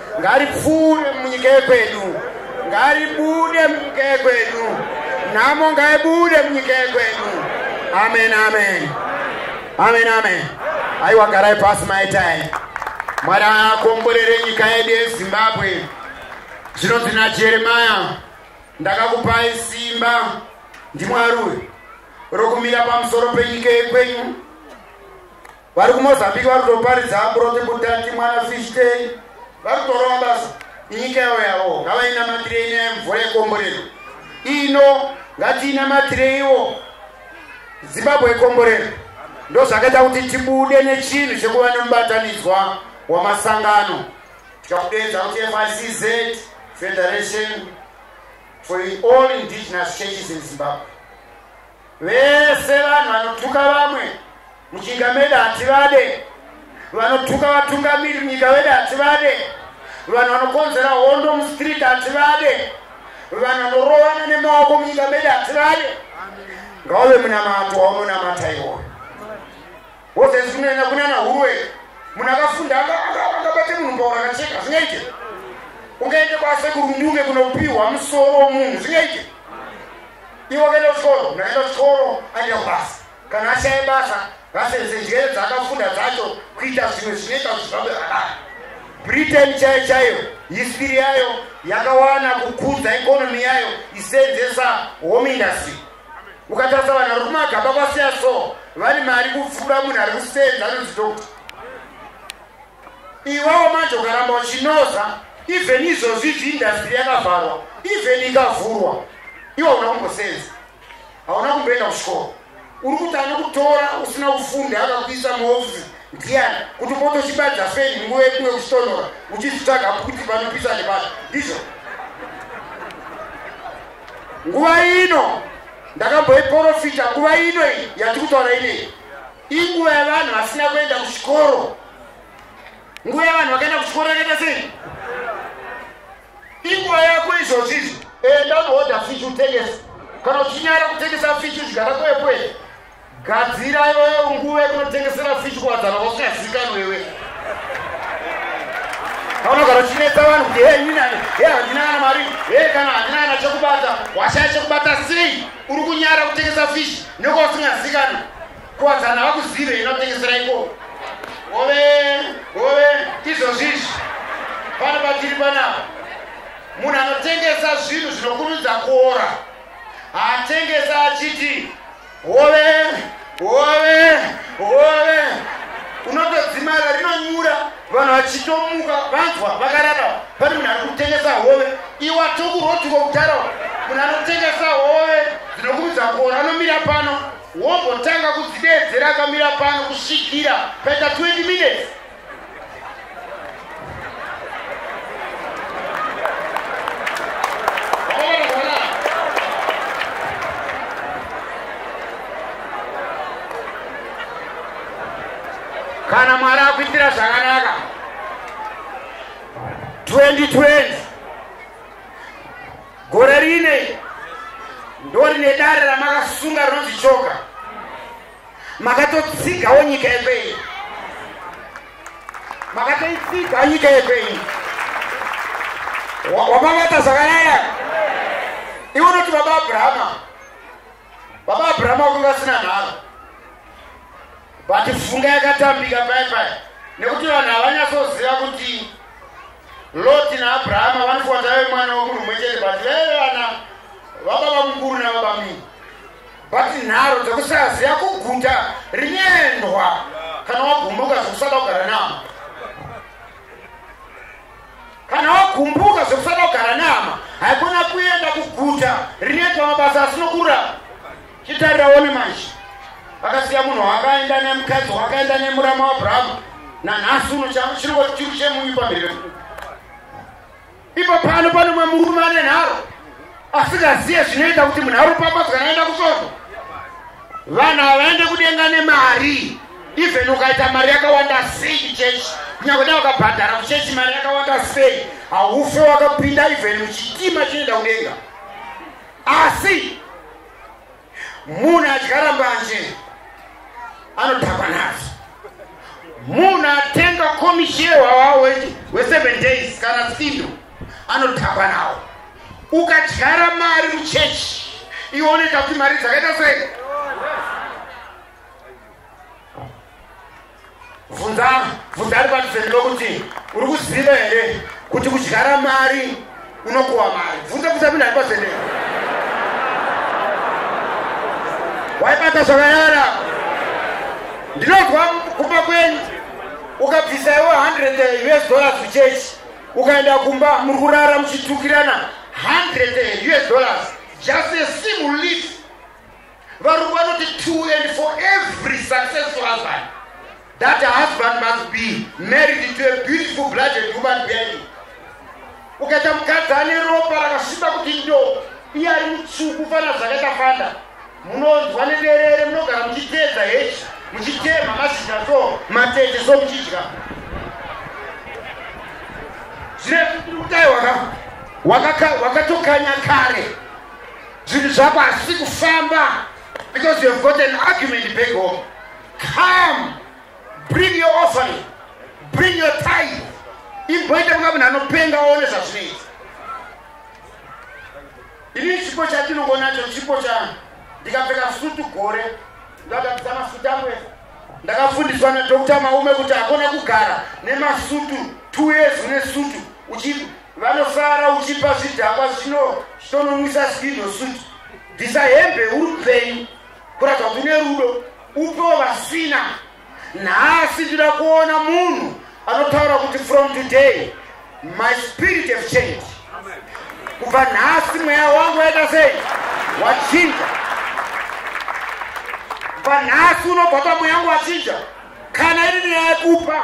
Ngaripfuure munyika yekwedu, ngaribude munyika yekwedu, nhamo ngaibude munyika yekwedu. Amen, amen, amen, amen. Aiwa, garai pasi maitai. Mwari akomborere nyika yedu yeZimbabwe. Zvinonzi naJeremaya, ndakakupai simba ndimwari uyu rokumira pamusoro penyika yekwenyu vari kumozambique vari kutoparidza aburoke budati mwana fishtei vari kutorova basa inyika yavo yavo ngavainamatirei nyaya mvura yekomborero ino ngatiinamatireiwo zimbabwe yekomborero ndo zvakaita kuti tibude nechinhu chekuva nemubatanidzwa wamasangano tikakudeedza kuti ficz federation for all indigenous churches in zimbabwe vese vanhu vanotuka vamwe muchinga meda hativade vanotuka vatungamiri munyika vede hativade vanhu vanokonzera hondo mustreet hativade vanhu vanorovana nemaoko munyika mede hativade ngauve munamato waunonamata iwoyo Wozezi kunyanya kunana huruwe munhu akafunda akabate munhu mbaura akacheka zvingaite ungaite kwasekuru mdunge kunopiwa musoro womunhu zvingaite iwe akaenda kuchikoro munhu akaenda kuchikoro aenda kubasa kana ashaye basa vasenzese njere dzaakafunda dzacho kuita zvimwe zvinoita kuti zvabe zvakare britain chaiyo chaiyo history yayo yakawana kukudza economy yayo isenzesa home industry ukatarisa vanhu vari kumagaba kwasiya so vane mari kupfuura munhu ari kusenza anonzi dokta iwawo manje ukaramba uchinoza even izvozvi izvi indastry yakavharwa even ikavhurwa iwa una kumbosenza hauna kumboenda kuchikoro uri kuti anokutora usina kufunda akakuisa muofisi ndiyani kuti upote uchibadza feni nguva yekunge kuchitonora uchizvitsvaga kuti panopisa nepano ndizvo nguva ino ndakamboiporofita nguva ino iyi yatiri kutaura inei inguva yavanhu vasina kuenda kuchikoro nguva yavanhu vakaenda kuchikoro yakaita sei inguva yako izvozvi izvi enda unohodha fish utengesa kana uchinyara kutengesa fish zvigara kwekwee Gadzira iwewe nguva yekunotengesera fish kuwadzana kwausingazivikanwa iwe. Paunogara uchinetsa vanhu kuti hei ini hei handina kana mari hei kana handina kana chekubata washaya chekubata sei uri kunyara kutengesa fish nekwausingazivikanwa kuwadzana havakuzive inotengesera ikoko ove ove izvozvi izvi pano patiri panapa munhu anotengesa zvinhu zvinokurudza kuora haatengesa achiti hove hove hove unotodzimara rinonyura vanhu vachitomuka vanzwa vakarara pane munhu ari kutengesa hove iwa tokurotiko kudhara munhu anotengesa hove dzinokuudza kora anomira pano wombotanga kudzideedzera akamira pano kusvikira paita 20 minutes kana mwari akuitira zvakanaka 2020 gore rine ndorine dare ramakasunga rinonzi choka makatotsigawo nyika yekwenyu makatoitsiga nyika yekwenyu wamavata zvakanyaya iwe unoti baba abrahama baba abrahama wakunge asina nharo but funga yakatambika pai pai nekuti vanhu havanyatsoziva kuti loti naabrahama vanofuwa tave mwana womunhu mwe chete but veve vana vababa mukuru navabamii But nharo dzekusaziva kuguta rinendwa kana wagumbuka zvekusada kugara nama kana wagumbuka zvekusada kugara nama haikona kuenda kuguta rinoitwa mabasa asinokurapa chitarira one manje vakasiya munhu wakaenda nemukadzi wakaenda nemurama wabrahma nanhasi uno chiriko chiri chemunyu pamberi Ipo pano pane mumwe murume ane nharo asingaziye zvinoita kuti munharo pamadzwa yaenda kusvondo vanhu havaende kudenga nemari even ukaita mari yakawanda sei chechi kunyakuda wakabhadhara kuchechi mari yakawanda sei haufe wakapinda even muchitima chinoenda kudenga asi Munhu adyara mbanje anodhakwa nadzo. Munhu atenga komishewa wawo weseven days kana sindo anodhakwa nawo. Ukadyara mari muchechi iwoneka kuti mari dzakaita sei? Vhunza vhunza ari padhuze newe kuti uri kuziva here kuti kudyara mari unokuwa mari. Vhunza vhunza munhu ari padhuze newe. Waibata zvakanyara. Ndinonzwa kumba kwenyu ukabvisa iwe 100 US dollars kuchechi ukaenda kumba muri kurara muchitukirana 100 US dollars just a single leaf Varungu vanoti two and for every successful husband. That husband must be married to a beautiful blooded human being. Ukaita mukadzi ane ropa rakasviba kuti ndo iye ari mutsvuku fana zvakaita fanda munonzwa nederere munogara muchitedza hechi muchitema mazhizha so matete so muchidya zvine kutaiwaka wakatokanya kare zvinhu zvako hazvisi kufamba because you have got an argument back home come bring your offering bring your time imboita kunga munhu anopenga oone zvazvinoita ini chipo chatinongonacho chipo cha ndikapfeka sutu gore ndakatisa masutu angu ese ndakafundiswa nadokta maume kuti hakona kugara nemasutu two years une sutu uchii Vanosara uchipa zvidhakwa zvino zvitononwisa skido suit. Bvisa hembe uri kupenyu kuratidza kuti une rudo upewo vasina. Nhasi ndida kuona munhu anotaura kuti from today my spirit have changed. Kubva nhasi mweya wangu waita sei? Wachinja. Kubva nhasi unobva pamweya wangu wachinja. Kana iri nyaya yekupa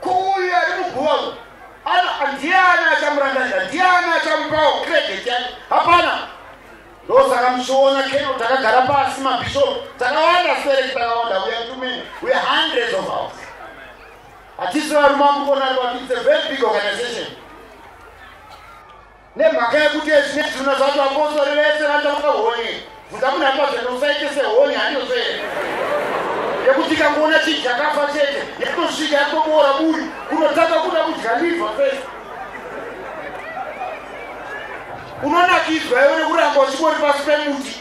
Kuuyu ari muguva uyu ana ndiani achamurangarira ndiani achamupawo credit yake hapana ndosaka muchiona keno takagara pasi mabishopu takawanda spereki takawanda uya tumene uya hundreds of hours hatisi varume amukona ati its a very big organization Nemhaka yekuti ezvine zviruno zvacho vapostori vese vanotamuka honye bvunza munhu ari pazvendo usaite sehonye handiozve yekuti ikangoona chii chakafa chete yekutosvika yakutoboora buri kunotanga kuda kudya liva fesi unonakidzwa iwe nekuramba uchingori pasi pemuti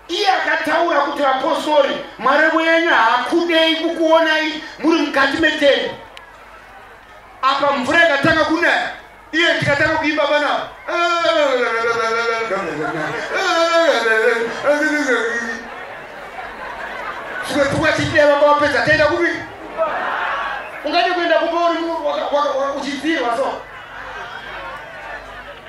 iye akataura kuti vapostori mwari wenyu haakudei kukuonai muri mukati meteni apa mvura ikatanga kunaya iye ndikatanga kuimba panapa zvimwe pfungwa chiteva kwawapedza taenda kupi ungade kuenda kupa uri uchidzirwa so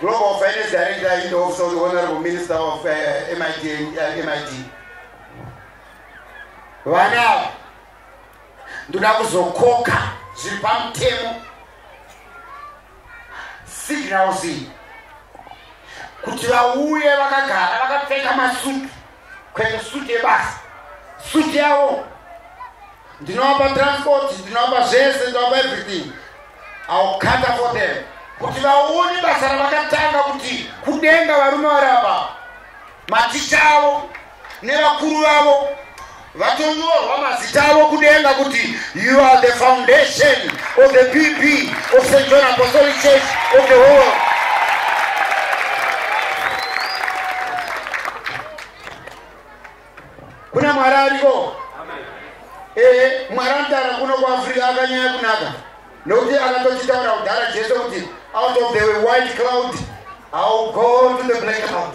Global Finance Director in the Office of the Honorable Minister of uh, eh, MIT, uh, eh, MIT. Vana, ndoda kuzokoka zviri pamutemo signals iyi kuti vauye vakagara vakapfeka masutu kuenda suit yebasa suit yavo ndinovapa transport ndinovapa zvese ndinovapa everything iwill cutter for them kuti vaone basa ravakatanga kuti kudenga varume vari apa maticha avo nevakuru vavo vatonyorwa mazita avo kudenga kuti you are the foundation of the pp of st john apostolic church of the whole world kuna mwari ariko ee mwari anotara kuno kuafrica akanyaya kunaka nokuti akatochitaura kudhara jesu kuti out of the white cloud ill go to the black cloud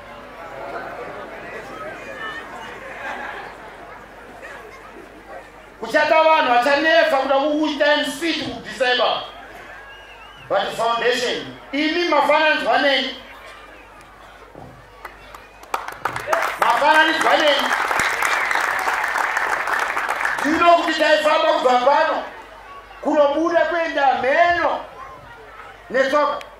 kuchata vanhu vachanetsa kuda kukuita mc tikudisable but foundation imi mafananidzwa neni mafananidzwa neni tino kuti taifamba kubva pano kunobuda kuenda mheno netsoka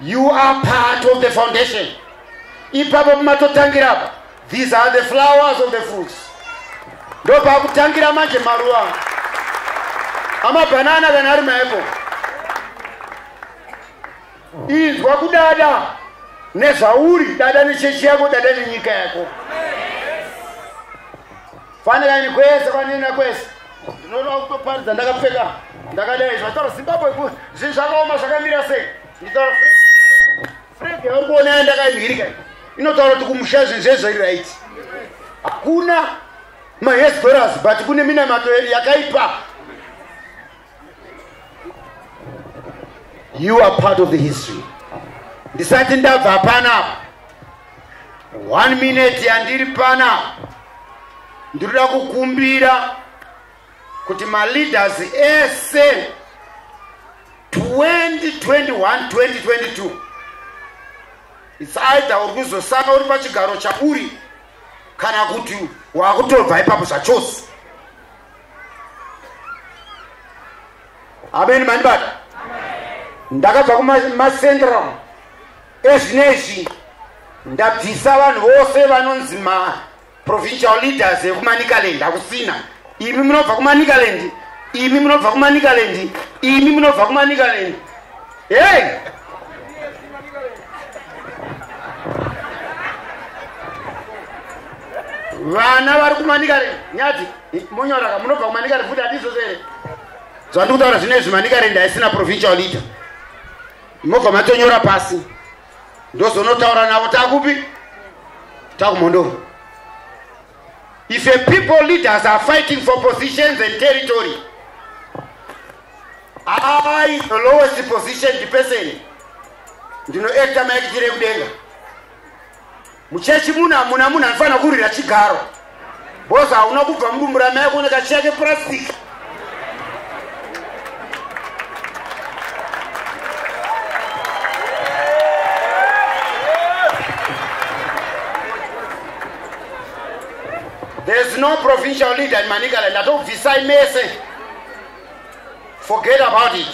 You are part of the foundation. Ipapo pamatotangira apa. These are the flowers of the fruits. Ndopakutangira manje maruva. Amabanana kana ari maapple. Inzwa kudada nezvauri, dada nechechi yako, dada nenyika yako. Amen. fanira ini kwese kwanina kwese ndinoda kutoparidza ndakapfeka ndakadai zvataura zimbabwe ku zvinhu zvakaoma zvakamira sei nditaura fred yauri kuona ya ndakaimhirika inotaura kuti kumusha zvinhu zvezvo iri right hakuna mahesdoras but kune minamato yakaipa you are part of the history ndisati ndabva pana one minute yandiri pana ndinoda kukumbira kuti maleaders ese 2021 2022 its either uri kuzosanga uri pachigaro chauri kana kuti wakutobva ipapo zvachose ameni mandibata ndakabva kumacentral ezvinezvi ndabvisa vanhu vose vanonzi maprovincial leaders ekumanicaland hakusina imi munobva kumanicaland imi munobva kumanicaland imi munobva kumanicaland Hey! vana vari kumanikare nyati munyoraka munobva kumanikare futi hatizozo here zvandiri kutaura zvino izvi manikare ndaisina provincial leader mobva matonyora pasi ndozonotaura navo takupi takumhondoro if a people leaders are fighting for positions and territory I, the lowest positioned person, ndinoekta maekitire kudenga. Muchechi muno hamuna munhu anofanira kurwira chigaro. Boza hauna kubva mudumbu ramai kuona kachiya kepurasitiki. There's no provincial leader in Manicaland. I don't decide message. forget about it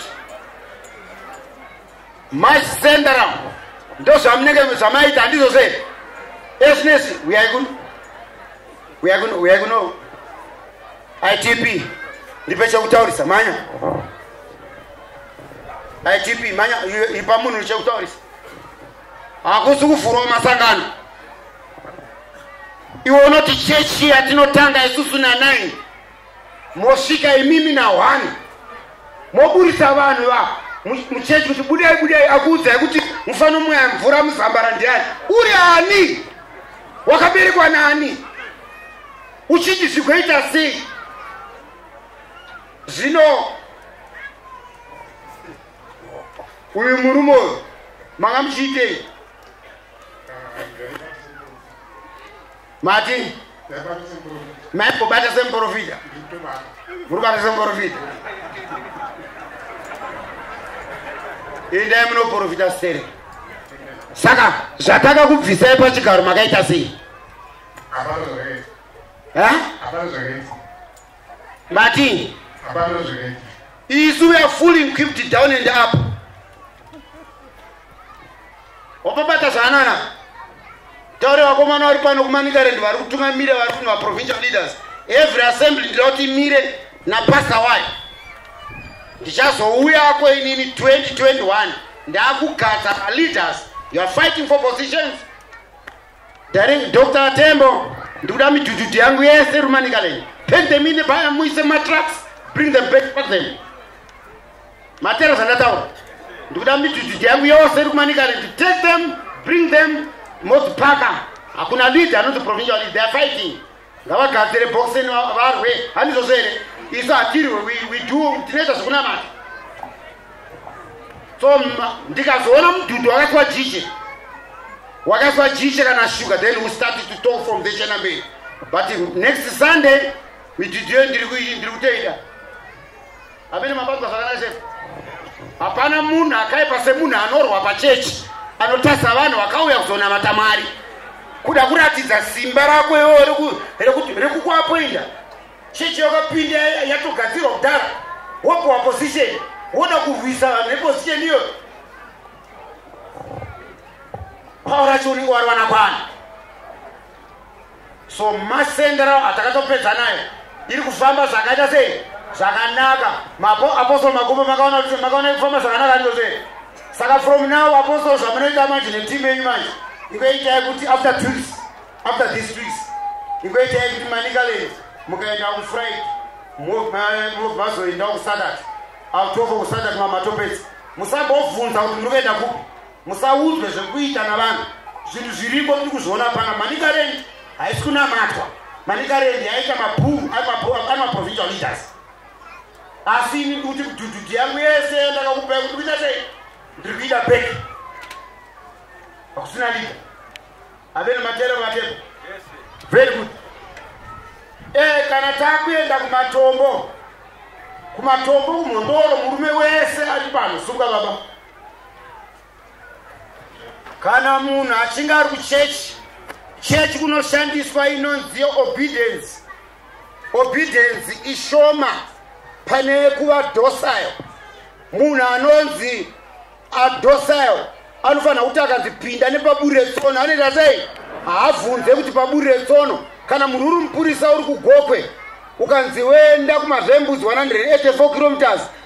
masendaram ndozvamunenge zvamaita handizvo sei esnesi uyai kuno uyai kuno uyai kuno itp ndipe chekutaurisa manya itp manya ipa munhu chekutaurisa hakusi kuvhurwa masangano iwe unoti chechi yatinotanga isusu na9 mosvika imimi nahwani moburitsa vanhu va muchechi kuti budai budai akuudzai kuti mufanomwaya mvura muzambara ndiani uri ani wakaberekwa naani uchiti zvigoita sei zvino uyu murume uyu manga muchiitei mati maikobata semuprofita muri kubata semuprofita indai munoprofita sere saka zvataka kubvisai pachigaro makaita sei Martin. Hapana zvakaita. Isu we are fully equipped down and up. Wapapata zvaanana. Taure vakomana vari pano kuManicaland vari kutungamira vari kunwa provincial leaders. Every assembly ndinoda kuti imire napastor wayo. Ndichazouya ko inini 2021 ndakugadza leaders. You are fighting for positions. Darling Dr. Tembo, ndikuda mijujuju yangu yese rumanika leyi. Take them in the buyer, muise matrucks, bring them back, pack them. Matero zvandataura. Ndikuda mijujuju yangu yose iri kumanika leyi. Take them, bring them, mozipaka. Hakuna lead anonzi provincial lead, they are fighting. ngavagadzire bhokiseni varwe handizvozvo here isu hatirwe we do tinoita zvekunamata so ndikazoona mudhudhu wakaiswa jishe wakaiswa jishe kana sugar then we start to talk from the chenamberi but next sunday midhudhu iyo ndiri kutoita amene mabatwa zvakanaka chete hapana munhu akaipa semunhu anorwa pachechi anotasa vanhu vakauya kuzonamata mwari kuda kuratidza simba rako iwo rekukuapoinda chechi yakapinda yatogadzirwa kudhara wopiwa position woda kurwisa vanhu neposition iyoyo pawo racho unenge wariwana kwana so masenda rao atakatopedza nayo iri kufamba zvakaita sei zvakanaka mapo apostol magumo makaona kuti makaona iri kufamba zvakanaka ndiko sei saka from now apostol zvamunoita manje netimu yenyu manje ingoitai kuti after tris after this tris ingoitai kuti manikalei mukaenda kufriday mazoenda kusadat autofo kusadat mamatopedzi musambobvunza kuti muri kuenda kupi musaudzwe zvekuita navanhu zvinhu zviriko tiri kuzviona pana manicarendi haisi kunamatwa manicarendi yaita mabhuu ari maprovincial leaders asi ini ndikuti kudhudhudhi yangu yese ndakakupai kuti kuita sei ndiri kuita beki hakusina lida haveni matero vatepo very good e eh, kana takuenda kumatombo kumatombo kumhondoro murume wese ari pano sunga baba kana munhu achinge ari kuchechi chechi kunoshandiswa inonzi yeobedience obedience ishoma pane yekuva docile munhu anonzi adocile anofanira kuti akanzi pinda nepaburi retsono anoita sei haabvunze kuti paburi retsono kana munhu uri mupurisa uri kugokwe ukanzi wenda kumazvembudzi 184 kilometers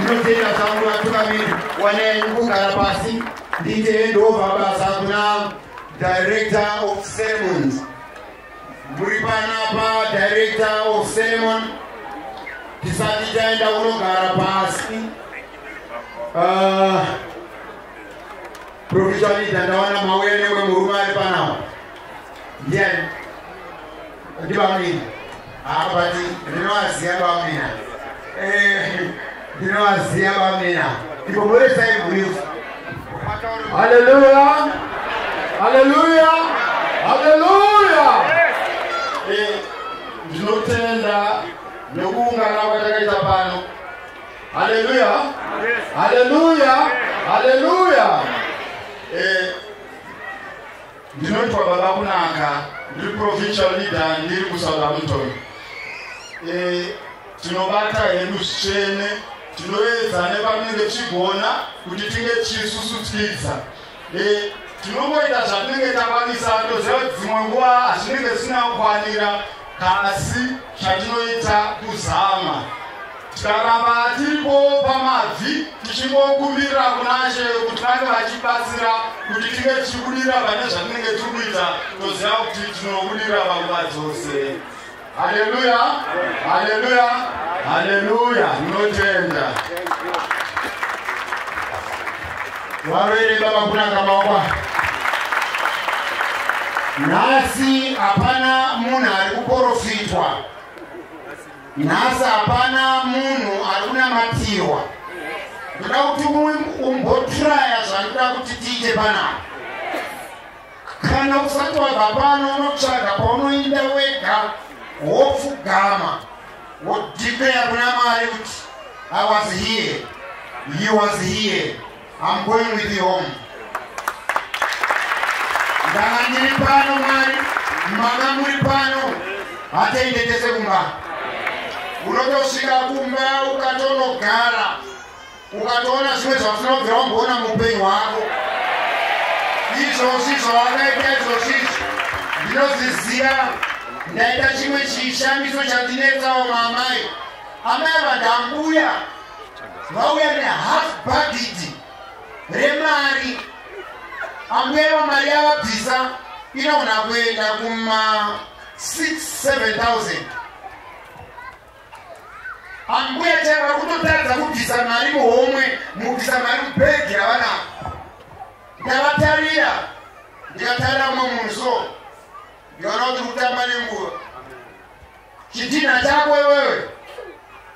ndinotenda zvangu vatungamiri wanei kugara pasi ndiite hendova basa kuna director of ceremonies muri panapa director of ceremony tisati taenda unogara pasi uh, Provisionita ndawana mauya newe murume ari panawo. Ndiani? Ndibamina. Abati ah, ndinowaziya bamina. Eh ndinowaziya bamina. Ndikoboresa iburifu. Haleluya. Haleluya. Haleluya. Eh ndinotenda nokuungana kwatakaita pano. haleluya haleluya haleluya eh, ndinoitwa baba kunaka ndiri provincial leader ndiri kusouthampton eh, tinobata hedu zvitsvene tinoedza nepatinenge tichigona kuti tinge tichisusudzidza Eh, tinongoita zvatinenge takwanisa toziva kuti dzimwe nguva hazvinenge zvisina kukwanira kasi chatinoita kuzama tikaramba tiripo pamabvi tichingokumbirira kunashe kuti vange vachibatsira kuti tinge tichibudira pane zvatinenge tiri kuita toziva kuti tinobudira panguva dzose Haleluya, haleluya, haleluya, munotenda. Varwere baba kunaka maoko. Nhasi hapana munhu ari kuporofitwa. Nhasi hapana munhu ari kunamatirwa. Ndoda kuti umbotraya zvandoda kuti tiite panapa. Kana usati wabva pano unotsvaga paunoinda wega wopfugama wodhikleya kuna mwari kuti i was here he was here im going with you home ndanga ndiri pano mwari manga muri pano hatiende tese kumba unotosvika kumba ukatonogara ukatoona zvimwe zvafuna kubvira wamboona muupenyu hwako izvozvi zvawakaita izvozvizvi ndinozviziva ndaita chimwe chishamiso chandinetsawo maamai amai vadambuya vauya nehalf bagidi remari ambuya ivo mari yavabvisa inogona kuenda kuma 6 7000 Ambuya chai vari kutotadza kubvisa mari muhomwe mukubvisa mari mubhegi ravanavo. Ndavatarira ndikatarira mumwe munhu so ndikaona kuti kutamba nenguva. Chidhinha chako iwewe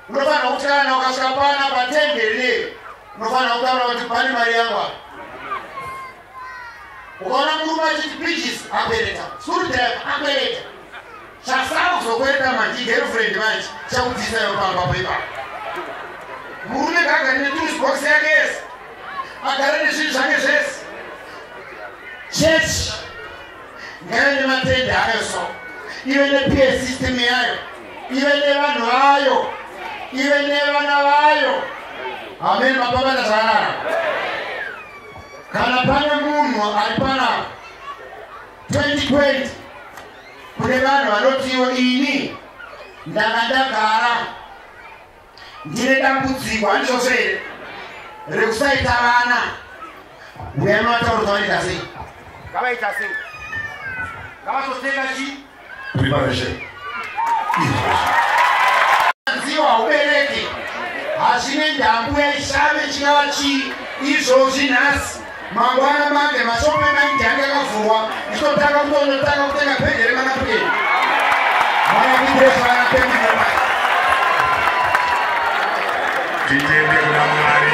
unofanira kuti kana ukasvika pana patendere unofanira kutaura kuti pane mari yangu apa. ukaona murume achiti pichis akwereta screwdrive akwereta chasara kuzokwereta manje igirlfriend manje chakubvisayo pamba poipa murume gagari netools box yake yese agare nezvinhu zvake zvese chechi ngaive nematende ayo so ive nepie system yayo ive nevanhu vayo ive nevana vayo ameni mapapana zvakanaka kana pane munhu ari panapa 2020 kune vanhu vanotiwo ini ndanga ndagara ndine dambudziko handichose here rekusaita vana uya novataurwa vaita sei ngavaita sei ngavazotenga chii preparation izvozvo dziwa haubereki hazvine ndambu yaishave chingava chii izvozvi nhasi mangwana mande mashopo emaindi ange akavhurwa ichotanga kutonotanga kutenga pendi remanapukeni manakuiresvana pendi titende kuna mwari